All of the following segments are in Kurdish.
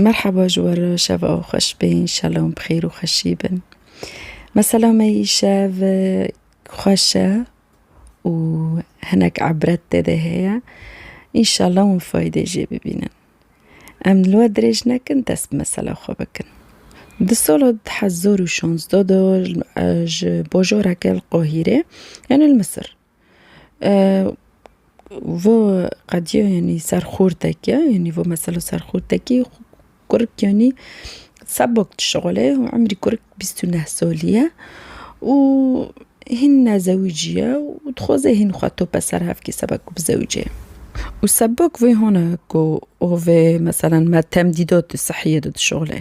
Merheba ji we re şeva we xweş bê înşela hûn bi xêr û xweşî bin. Mesela me îşev xweş e û hinek ebret tê de heye înşela hûn faydê jê bibînin. Em li we dirêj nekin dest bi mesela xwe bikin. Di sala du hezar û şanzde de ji bajoreke li Qahîrê yanî li Misir, Vo qediya yanî ser xurteke yanî vo mesela ser xurtekî kurik yanî sebok dişuxile û emrî kurik bîst û neh salî ye û hîn nezewicî ye û dixwaze hîn xwe tope ser hev kê seba ku bizewicê û sebok vê hona ku û vê meselan me temdîda tu sihiyê de dişuxile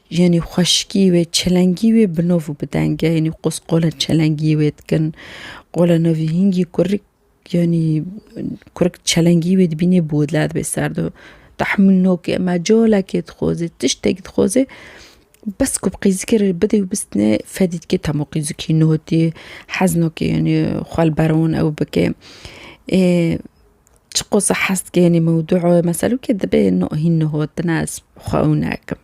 Yanî xweşikî wê, çelengî wê bi nov û bi deng e. Yanî qos qola çelengî wê dikin. Qola navî hingî kurik yanî kurik çelengî wê dibînê bi wila dibê ser do. Tahmûl nokê me calekê dixwazê, tiştekî dixwazê bes ku bi qîzikê re bidê û bistine fedî dike tamo qîzikî notî hez nake yanî xwe li ber wan ew bike. Ê çi qosa hez dike yanî mewdû e meselûkê dibê no hîn nohot bine ez xwe ew nakim.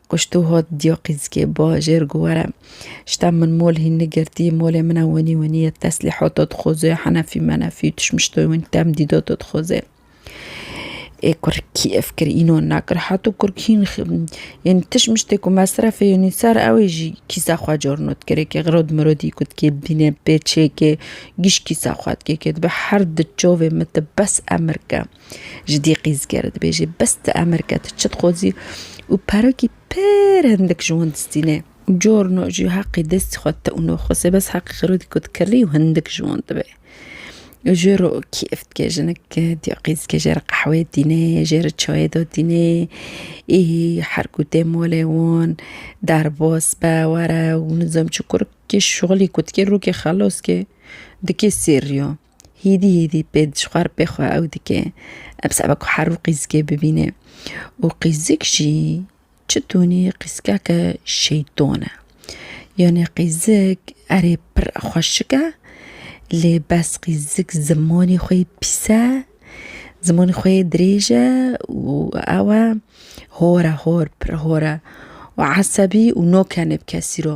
Kuşto hat diya qîzikê bajêr gu were şta min mol hîn nigirtî molê min e wenî wenî ye teslîhata dixweze henefî menefî tişmiştoyê win temdîdata dixweze ê kurk kî ev kir înan nekir heto kurk hîn yenî tişmiştê ku mesrefê yenî ser ew ê jî kîsa xwe carna dikirê kê xirod mirodî ku dikê bînê pê çêkê gîş kîsa xwe dikê kê dibe her di çavê min de bes emir ke Ji dî qîzgêre dibêjî bes di emirke tu çi dixwazî û perokî pir hindik ji wan distîne. Corno jî heqî destî xwe te û noxwese bes heqî xirûdî ku dikirî û hindik ji wan dibe. Jê re kêf dike jinik dîya qîzge jê re qehweyê dîne, jê re çayê da dîne. Ê her ku tê malê wan derbas be were û nizam çi kur kê şixulî ku dikê rokê xelas kê dikê sêr riya. Hîdî hîdî pê dijwar pê xwe ew dike. Em seba ku her û qîzikê bibîne. Û qîzik jî çi tûnî qîzikeke şeyton e. Yanê qîzik erê pir xweşik e lê bes qîzik zimanê xwe yê pîs e, zimanê xwe yê dirêj e û ew e hor e hor pir hor e û esebî û nokene bi kesî re.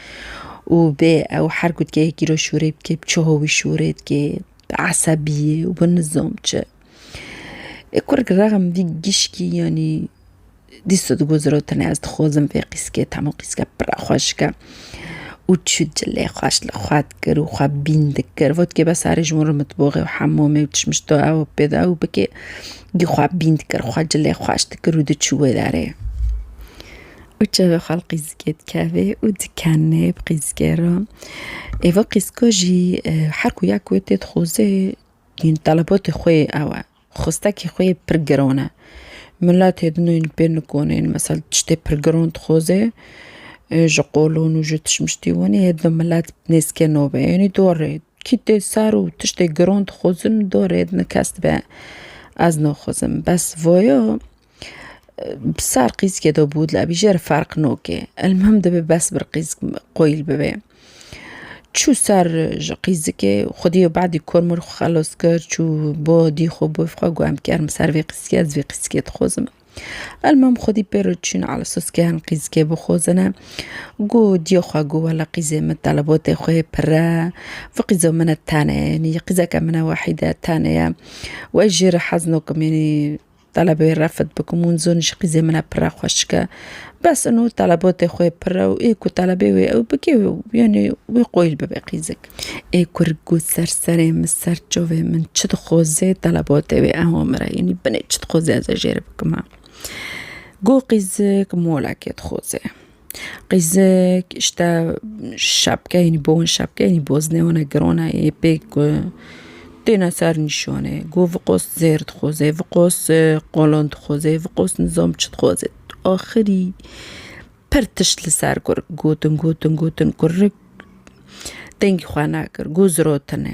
û bê ew her ku dikê yekî re şûrê bikê bi çuha wî şûrê dikê bi esebiyê û bi nizam çi. Ê kurr gi rexm vî gişkî yanî dîsa di goz re tenê ez dixwazim vê qîskê tema qîske pira xweşik e û çû cilê xweş li xwe dikir û xwe bîn dikir vat kê bes erê ji wan re mitboxê û hemamê û çişmiş da ew pê da ew bikê gî xwe bîn dikir xwe cilê xweş dikir û diçû wê derê. Û çavê xwe li qîzikê dikeve û dikene bi qîzikê re. Êva qîzika jî her ku ya ku wê tê dixuze yên talebatê xwe yê ew e. Xwestekê xwe yê pir giran e. Miletê din ên li pêr nikonên misal tiştê pir giran dixuze ji qolon û ji tişmiştî wan ê di milet nêzikê nabe. Yanî di we re kî tê ser û tiştê giran dixuzin di we re di kes dibe ez naxuzim. Bes vaya. Bi sar qîzkê do bû dila bî jer ferq nokê. El muhim dibê bes bir qîzk qoyîl bibê. Çû ser ji qîzikê xwedî û badî kormir xwe xelos kir çû bo dî xwe bû xwe got em ker min ser vê qîzkê ez vê qîzkê dixwazim. El muhim xwedî pê re çûn ala soskeyan qîzkê bixwazine. Got diyê xwe got wela qîzê min telebotê xwe yê pire. Vê qîza min e tenê yanî qîzeke min e wahîde tenê ye. Wê jê re hez nakim yanî. Telebê refet bikim û zon ji qîzê min e pire xweş dike. Bes ino telebotê xwe pire û ê ku telebê wê ew bike yanî wê qoyîl bibe qîzik. Ê kur got ser serê min ser çavê min çi dixwaze telebotê wê ewa min re yanî binê çi dixwaze ez ê jê re bikima. Got qîzik molekê dixwaze. Qîzik îşte şepkeyên bo in şepkeyên boz ne wana giran e yê pê ku têne ser nîşanê ku vi qos zêr dixuze vi qos qalan dixuze vi qos nizam çi dixuze axirî pir tişt li ser kurik gotin gotin gotin kurik dengê xwe nekir ku ziratine.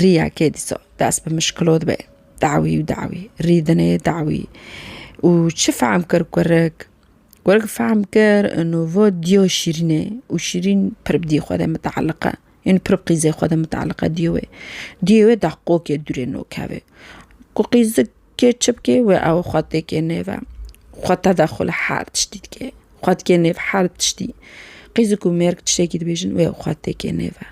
Riya kê dîsa dest bi mişkilot be? Dawî û dawî, rîdinê dawî û çi fehm kir kurik? Kurik fehm kir ino va diya Şîrînê û Şîrîn pir bi diyê xwe de miteelliq e. Ên pir bi qîzê xwe de miteelliq e diyê wê. Diyê wê da qokê dûrê nokeve. Ku qîzik kê çi bikê wê ew xwe têkê nêve. Xwe tedexul her tiştî dike. Xwe dike nêv her tiştî. Qîzik û mêrg tiştekî dibêjin wê ew xwe têkê nêve.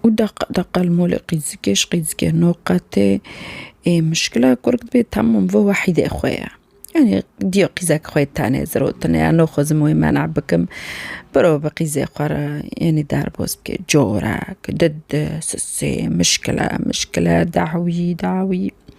û deq deq qelmolê qîzikê ji qîzikê no qetê ê mişkila ku rik dibê temûn vê wehîdê xwe ye. Yanî dîya qîzek xwe tenê zirotine ya naxwazim wê mena bikim biro bi qîzê xwe re yanî derbas bike corek, dide, sisê, mişkile, mişkile, dawî, dawî.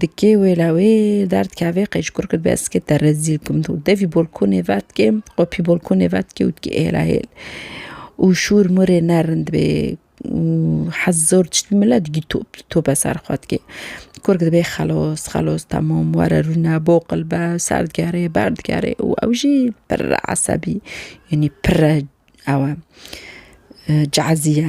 Dikê wê la wê derd ke vê qeşkur kir bes ke te rezîl kim tu. Devî bolkonê vedikê qopî bolkonê vedikê û dikê hêla hêl. Û şûr murê ne rind bê û hez zor tiştî mile digî top li tope ser xwe dikê. Kurg dibê xelos xelos temam were rûne boqil be ser digerê ber digerê û ew jî pirr esebî yanî pirr e ew e cazî ye.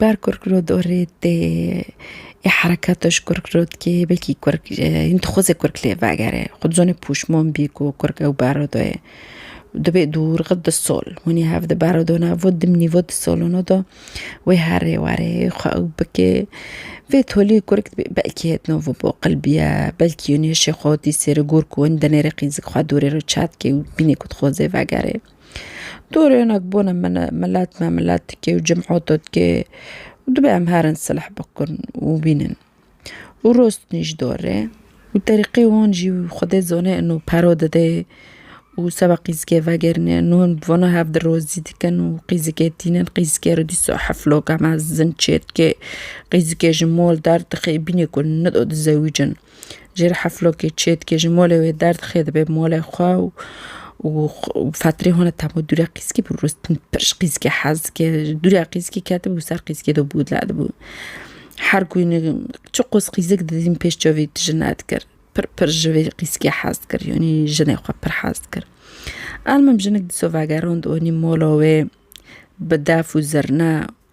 Ber kurkrod orê tê ê hereketa ji kurkrod kê belkî kurk hin dixwaze kurk lê vegere xwe dizane pûşmon bî ku kurk ew beredo ye dibê dûr xwe di sol hûnî hev di beredo ne vo dimnî vo di solino de wê herê werê xwe ew bike vê tolî kurk dibê belkî hêtino vo bo qilbiye belkî hêşê xwe dî sêri gor ku hin dinêre qîz xwe dûrê re çet kê û bînê ku dixwaze vegere. Dûrê hinek bûne min e, milet me milet dikê û cim'oto dikê û dibê em herin silh bikin û bînin û rostinî ji dor e û terîqê wan jî xwedê zone ino pero dide û seba qîzikê vegerîne ino hin bi vana hev dirozî dikin û qîzikê tînin qîzikê re dîsa hefloka mezin çêdike qîzikê ji mol derdixê bînê ku nido dizewicin. Jê re heflokê çê dike, ji molê wê derdixê dibe bi molê xwe û û fetrê hone tamo dûre qîskî bû rûstin pir ji qîskê hez dike. Dûre qîskî ketibû ser qîskê de bû dile dibû. Her ku ne çi qos qîzik didîm pêş çavê wî tije nedikir. Pir pir ji vê qîskê hez dikir yanî jinê xwe pir hez dikir. Elmim jinik dîsa vegerand anî mola wê bi def û zirne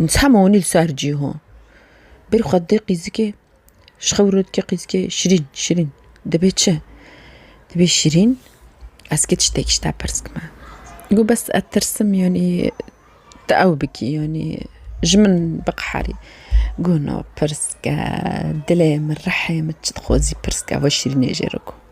Nitha ma wonî li ser cî ho. Bêrî xwe didê qîzikê, ji xwe wiro dike qîzikê Şirîn, Şirîn dibê çi? Dibê Şirîn ez kê tiştek ji te pirs bikime. Got bes ez tirsim yanî tu ew bikî yanî ji min biqeherî. Got na pirs bike dilê min rihê min çi dixwazî pirs bike va Şirînê jê re got.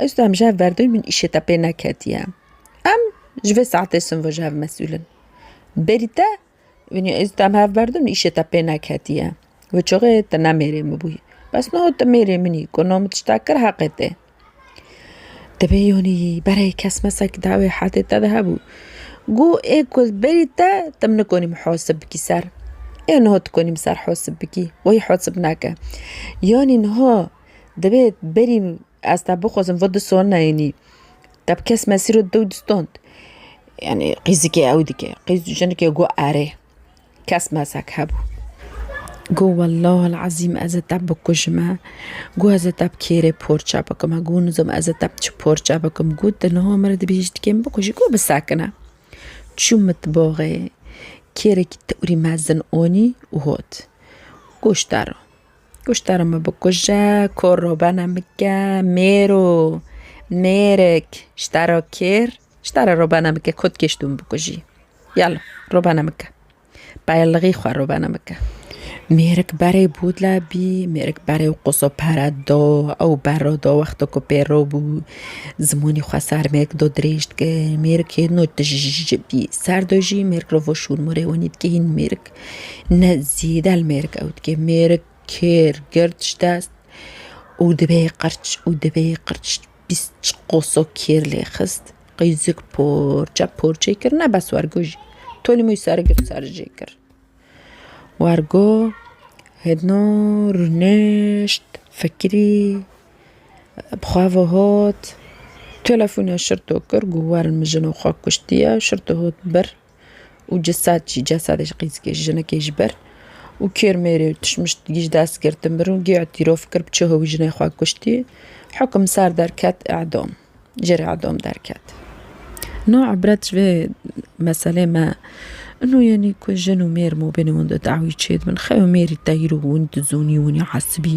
Ez tu em ji hev berdewî min îşê te pê neketiye. Em ji vê saetê sinvo ji hev mesûl in. Berî te binî ez û tu em hev berdin min îşê te pê neketiye. Wê çaxê tu ne mêrê min bûyî. Bes niha tu mêrê min î ku niha min tiştek kir heqê te ye. Divê yanî berê kes mes di wê hetê te de hebû. Goh ê ku ez berî te tu min nikanî mihasib bikî ser. Ê niha tu kanî min ser hesib bikî. Wayî hesib neke. Yanî niha Dibê berî ez te bixwazim vod di soneyênî te bi kes mesîro di dewt distond. Yanî qîzikê ew dike. Qîz û jinike got erê kes mesak hebû. Got wellahil ezîm ez ê te bikujime, got ez ê te bi kêrê porçe bikim, got nizam ez ê te bi çi porçe bikim. Got tu niha min dibê hiştikê min bikujî. Got bisekine. Çû mitbaxê kêrekî tewrî mezin anî û hat. Goşt dero. Kuştara me bikuje, koro bene bike, mêro mêrik ji te re kêr, ji te re ro bene bike, kod kê ji dû min bikujî. Yala ro bene bike. Pelixî xwe ro bene bike. Mêrik berê bû dile bî, mêrik berê û qoso pere do, ew ber re do wexto ku pê re bû, zimanê xwe ser mêrik do dirêj dike. Mêrikê no tij ji bî ser do jî mêrik re vo şûn morê wenî dike hîn mêrik. Ne zîde li mêrik ew dike. Mêrik kêr, gird ji dest û dibê qirç û dibê qirç bîst qoso kêr lê xist. Qîzik porçe porçe kir ne bes wergo jî tolî moy ser girt ser jê kir. Wergo hêdino rûnişt fikirî bi xwe ve hot telefonê şirto kir got werin min jino xwe kuştiye şirto hot bir. û ceset jî cesedê ji qîzikê ji jinekê ji ber û kêrmêrê û tişmiştgî ji dest girtin bir û gê îtîrof kir bi çiho wî jinê xwe kuştî. Hukim ser derket edam jêrê edam derket. No ibret ji vê meselê me ino yenî ku jin û mêr mabênê wan de dawî çêdibin xew ê mêrî teyr û hûn dizonî hûnî hesibî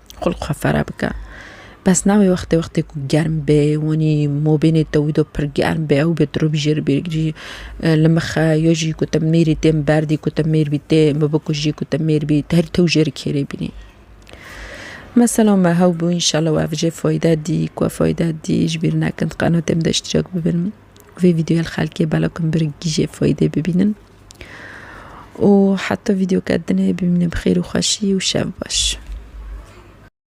Xulq xwe fere bike. Bes nabê wextê wextê ku germ bê, wanî mobînê te wî do pir germ bê, ew bê tu rûbî jê re bêrgirî li mixe yo jî ku te mêrî tê min berdî ku te mêr bî tê min bikujî ku te mêr bî te herî tew jê re kêrê bînî. Mesela me hewbû înşela we ev jê fayde dî ku ev fayde dî ji bîr nekin qenatê min de îştirek bibin. Vê vîdyoya li xelkê bela ku min bi rigî jê faydê bibînin. û heta vîdeoka din ê bimîne bi xêr û xweşî û şev baş.